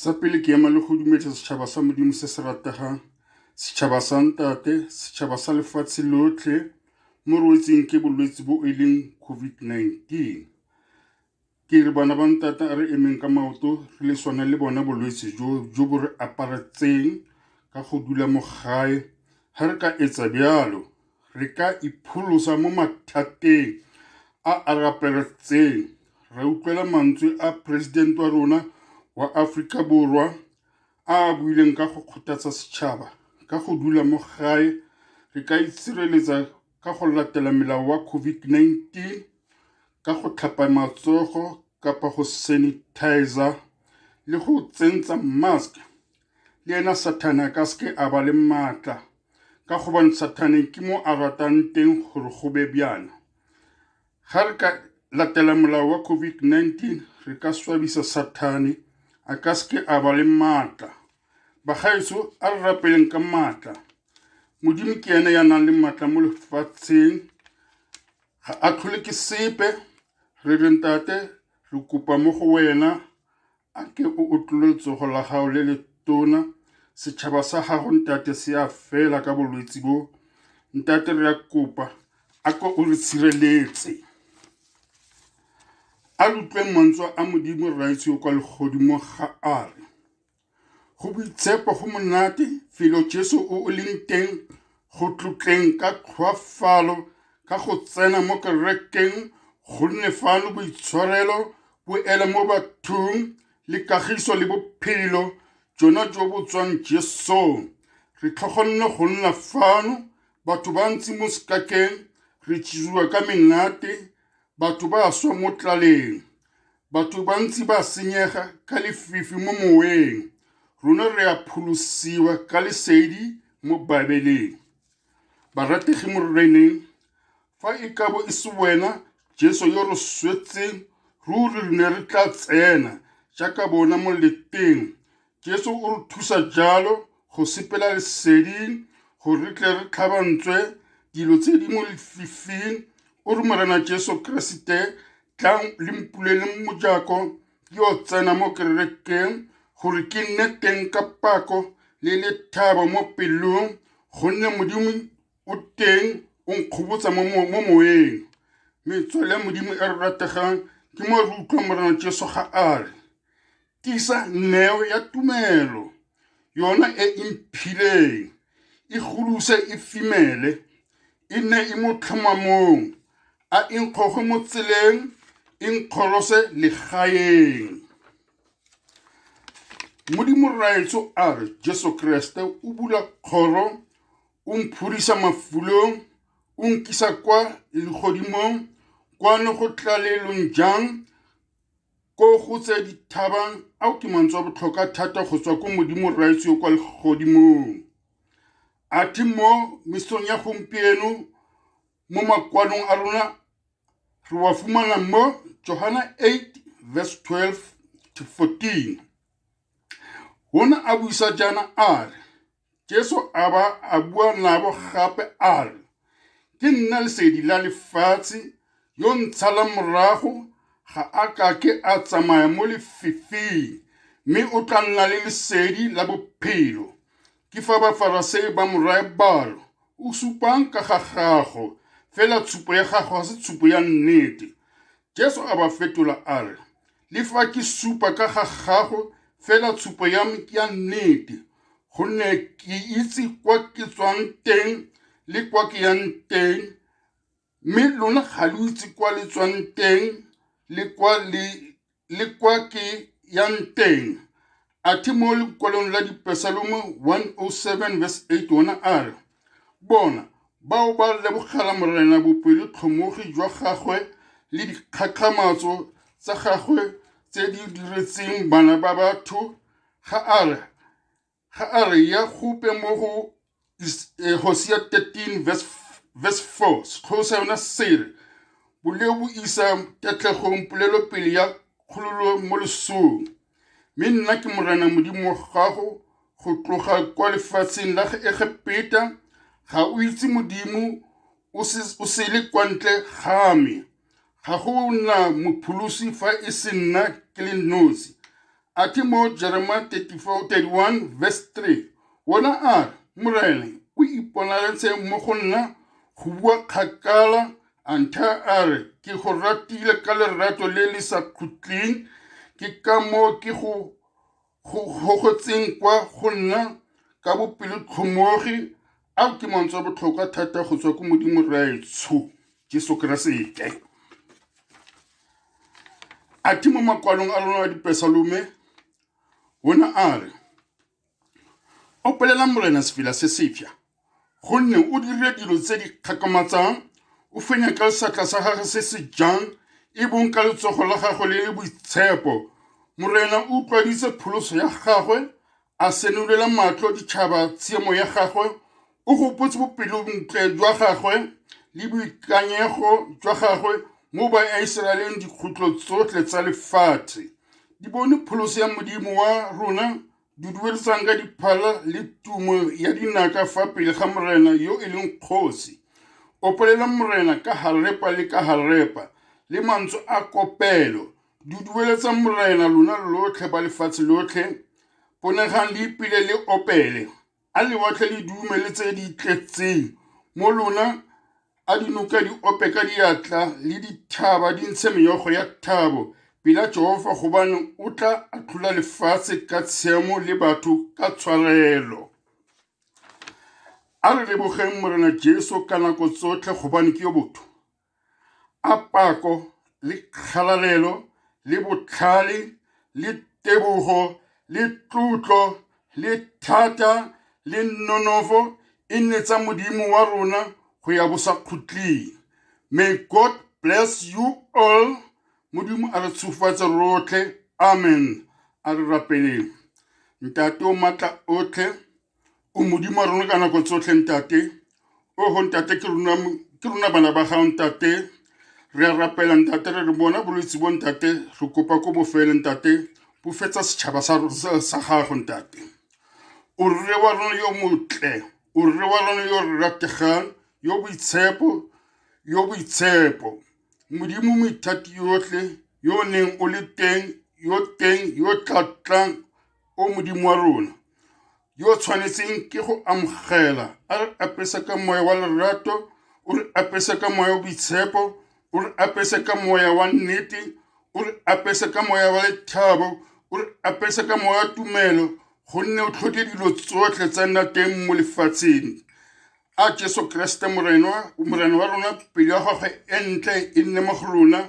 sa pele ke ema le go dumetsa setšhaba sa modimo se se rategang setšhaba sa ntate setšhaba sa lefatshe lotlhe mo rwetseng ke bolwetse bo e leng covid-19 ke re bana ba ntata a re emeng ka maoto re le swana le bona bolwetse jo jo bo re aparetseng ka go dula mo gae ga re ka etsa bjalo re ka ipholosa mo mathateng a a rapeletseng ra utlwela mantswe a presidente wa rona wa Aforika Borwa a a buileng ka go kgothatsa setšhaba ka go dula mo gae re ka itshireletsa ka go latela melao wa COVID-19 ka go tlhapa matsogo kapa go sanitizer le go tsentsa mask le ena sathane a ka seke a ba le maatla ka gobane sathaneng ke mo a ratang teng gore go be bjana ga re ka latela molao wa covid-19 re ka swabisa sathane a ka seke a ba le maatla bagaetso a re rapeleng ka maatla modimo ke ene ya nang le maatla mo lefatsheng ga a tlhole ke sepe re re ntate re kopa mo go wena A ke o utlwile letsogo la gago le le tona setšhaba sa gago ntate se a fela ka bolwetse bo ntate re a kopa a ko o re tshireletse a lutlweng mantswe a modimo raitse o kwa legodimo ga a re go boitshepo go monate felo jesu o o leng teng Go tlotleng ka tlhoafalo ka go tsena mo kerekeng gonne fano boitshwarelo bo ele mo bathong le kagiso le bophelo jona jo bo tswang Jesong. Re tlhogonne go nna fano batho ba ntse mo sekakeng re jesiwa ka menate batho ba swa mo tlaleng Batho bantsi ba senyega ka lefifi mo moweng, rona re a pholosiwa ka lesedi mo Baebeleng. Barategi mo Reneng, fa e ka bo e se wena Jesu yo re swetseng, ruri re ne re tla tsena jaaka bona mo leteng Jesu o re thusa jalo go sepela leseding gore re tle re tlhabantswe dilo tse di mo lefifing o re morena jesu keresete tlang le mpuleleng mojako yo tsena mo kerekeng gore ke nne teng ka pako le lethabo mo pelong gonne modimo o teng o nkgobotsa mo mo- mo moeng metswale ya modimo e re rategang ke mo re utlwang morena jesu ga a re Tisa neo ya tumelo, yona e e mphileng, e goluse e fimele, e nne e mo tlhomamong, a e nkgoge mo tseleng, e nkgolose legaeng. Modimo Rraetsho a re, Jesu Kreste o bula kgoro, o mphurisa mafulong, o nkisa kwa legodimong, kwano go tlalelong jang, Ko go tse dithabang ao ke mantswe a botlhokwa thata go tswa ko modimo rraetsi yo kwa legodimong a thi mo mesong ya gompieno mo makwalong a rona re wa fumana mo johana 8 verse 12 to 14 ona a buisa jaana a re Jesu a ba a bua nabo gape a re, Ke nna lesedi la lefatshe, yo ntshalang morago ga a ka ke a tsamaya mo lefifing, mme o tla nna le lesedi la bophelo. Ke fa Bafarasei ba mo raya balo, o supang ka ga gago, fela tshupo ya gago ga se tshupo ya nnete. Jesu a ba fetola a re, Le fa ke supa ka ga gago fela tshupo ya me ke ya nnete, gonne ke itse kwa ke tswang teng le kwa ke yang teng, mme lona ga lo itse kwa le tswang teng le kwa le le kwa ke yang teng. A thi mo lekwalong la Dipesalome 107 verse 8 ona a re, Bona, bao ba lebogela Morena bopelotlhomogi jwa gagwe le dikgakgamatso tsa gagwe tse di diretseng bana ba batho, ga a re, ga a re ya gope mo go eh, Hosea 13 verse, verse 4 sekgolosa yona sere boleo bo isa ketlegong polelopele ya kgololo mo lesong mme nna ke morena modimo wa gago go tloga kwa lefatsheng la egepeta ga o itse modimo o sele kwa ntle ga me Ga go na mopholosi fa e se nna ke le nosi. A the mo Jerema 31 verse 3, ona a re, Morena o iponaletse mo go nna go bua kgakala a ntha a re, ke go ratile ka lerato le le sa khutleng, ke ka moo ke go go gogotseng kwa go nna ka bopelotlhomogi ao ke mantswe a botlhokwa thata go tswa ko modimo raetsho jesu keresete a thi mo makwalong a lona a dipesalome o ne a re opelelang morena sefela se sefja gonne o dirile dilo tse di kgakamatsang o fenya ka seatla sa gagwe se se jang e bong ka letsogo la gagwe le le boitshepo morena o utlwaditse pholoso ya gagwe a senolela matlho ditšhaba tshiemo ya gagwe o gopotse bopelontle jwa gagwe le boikanyego jwa gagwe mo baisraeleng dikgutlo tsotlhe tsa lefatshe di bone pholoso ya modimo wa rona di duedisang ka diphala le tumo ya dinaka fa pele ga morena yo e leng kgosi opalela morena ka harepa le ka harepa le mantswe a kopelo di dueletsa morena lona lotlhe ba lefatshe lotlhe ponegang le ipile le opele A lewatle le dume le tse di tletseng mo lona, a dinoka di ope ka diatla le dithaba di ntshe meyogo ya thabo pela Jehofa gobane o tla atlhola lefatshe ka tshiamo le batho ka tshwarelo. A re lebogeng Morena Jesu ka nako tsotlhe gobane ke yo botho. a pako le kgalalelo le botlhale le tebogo le tlotlo le thata le nonofo e nne tsa modimo wa rona go ya bosakhutleng may god bless you all modimo a re tshofatse rotlhe amen a re rapeleng ntate o maatla otlhe O Modimo wa rona ka nako tsotlhe, Ntate. O go Ntate, ke rona ke rona bana ba gago, Ntate. Re a rapela, Ntate, re re bona bolwetse bo, Ntate. Re kopa ko bofele, Ntate. Bofetsa setšhaba sa sa- sa gago, Ntate. O rre wa rona yo motle, o rre wa rona yo re rategang, yo boitshepo, yo boitshepo. Modimo mo ithati yotlhe, yo o neng o le teng, yo teng, yo tla tlang, O Modimo wa rona, yo o tshwanetseng ke go amogela, a re apesa ka moya wa lerato, o re apesa ka moya wa boitshepo, o re apesa ka moya wa nnete, o re apesa ka moya wa lethabo, o re apesa ka moya wa tumelo, gonne o tlhoke dilo tsotlhe tsa nna teng mo lefatsheng. A Jesu Kriste Morena wa rona, pelo ya gagwe e ntle e nne mo go rona,